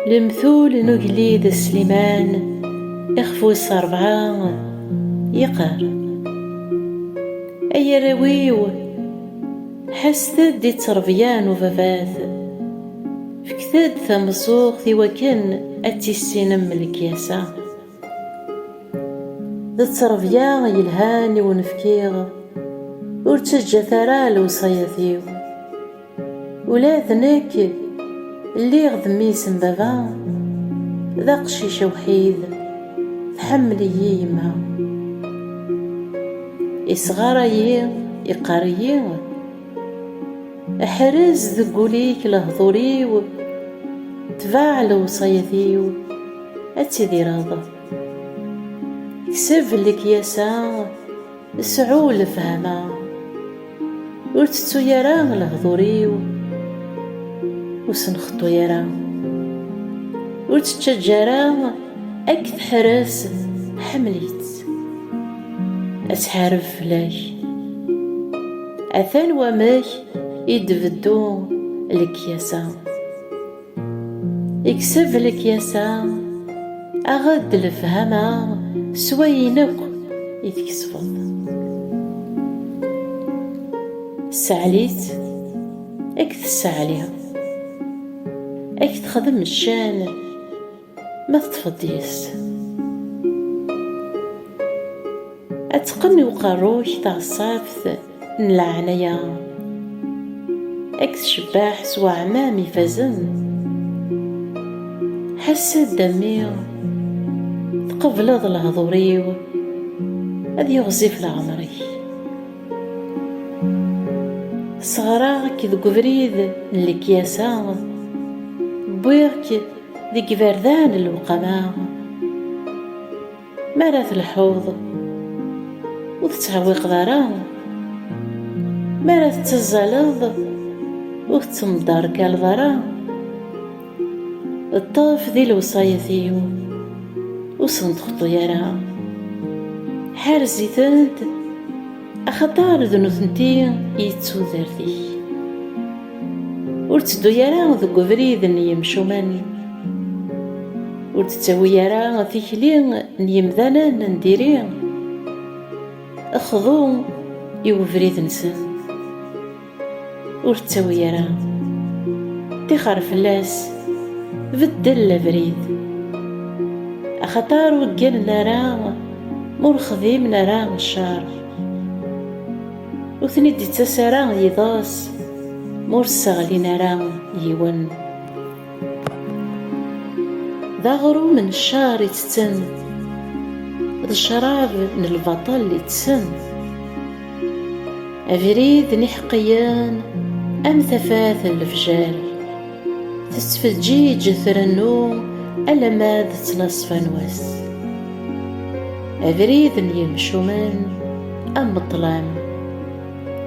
Lemtul n ugellid Sliman ixef wis rebɛa yeqqar ay arraw-iw ḥaset-d i ttrebya n ubabat fket-d tameẓẓuɣt i wakken ad tissinem lekyasa. D ttrebya yelhan i wen-fkiɣ Ur ttaǧǧat ara lewṣayat-iw Ula d nekk lliɣ d mmi-s n baba D aqcic awḥid tḥemmel-iyi yemma Isɣaray-iyi iqqar-iyi Ḥrez deg ul-ik lehdur-iw Tbaɛ lewṣayat-iw ad tidireḍ. Kseb lekyasa, sɛu lefhama. Ur tettu ara lehdur-iw, ur sen-xeṭṭu ara. Ur tt-ttaǧǧa ara ad k-teḥrez, ḥemmel-itt. Ad tḥareb fell-ak. Atan wamek i d-tbeddu lekyasa. Ikseb lekyasa, aɣ-d lefhama s wayen akk i tkesbeḍ. Sseɛli-tt ad k-tesseɛli, ad k-texdem ccan. Ma teṭṭfeḍ deg-s. Ad teqqen i uqerru-k teɣṣabt n leɛnaya, ad k-tcebbeḥ s weɛmam ifazen. Ḥess-d a mmi, tqebleḍ lehdur-iw, ad yiɣzif leɛmer-ik. Sseɣreɣ-k deg ubrid n lekyasa, wwiɣ-k. deg iberdan n lewqama mi ara telḥuḍ ur tettɛewwiqeḍ ara mi ara tettazzaleḍ ur tettemderkaleḍ ara ṭṭef di lewṣayat-iw ur sen-texṭi ara ḥerz-itent axaṭer d nutenti i d tudert-ik. Ur tteddu ara deg ubrid n yimcumen, ur d-ttawi ara tikli n yimdanen n diri, xḍu i ubrid-nsen. ur ttawi ara tixer fell-as beddel abrid axaṭer ur gganen ara ur xdimen ara ccer ur ten-id-ittas ara yiḍes ma ur sseɣlin ara yiwen d aɣrum n ccaṛ i ttetten d ccṛab n lbaṭel i ttsen abrid n iḥeqqiyen am tafat n lefjer tettfeǧǧiǧ trennu alamma d ttnaṣfa n wass abrid n yimcumen am ṭṭlam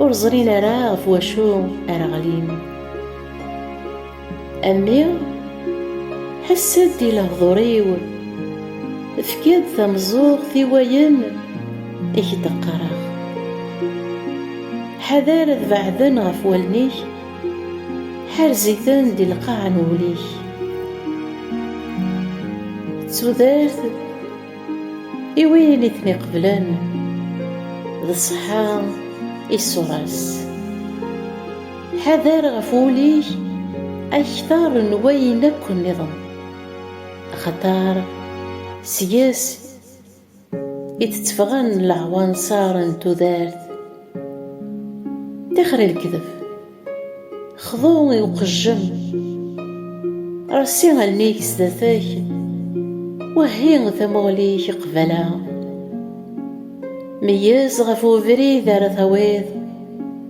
ur ẓrin ara ɣef wacu ara ɣlin A mmi, ḥess-d i lehdur-iw, efk-d tameẓẓuɣt i wayen i k-d-qqareɣ. Ḥader ad beɛden ɣef wallen-ik, ḥerz-iten di lqaɛa n wul-ik. D tudert i win i ten-iqeblen, d ṣṣeḥḥa i ṣṣura-s. Ḥader ɣef wul-ik akter n wayen akk nniḍen, axaṭer seg-s i d-tteffɣen leɛwanṣer n tudert. Tixer i lekdeb, xḍu i uqejjem, reṣṣi allen-ik sdat-k, wehhi tamuɣli-k qbala. Meyyez ɣef webrid ara tawiḍ.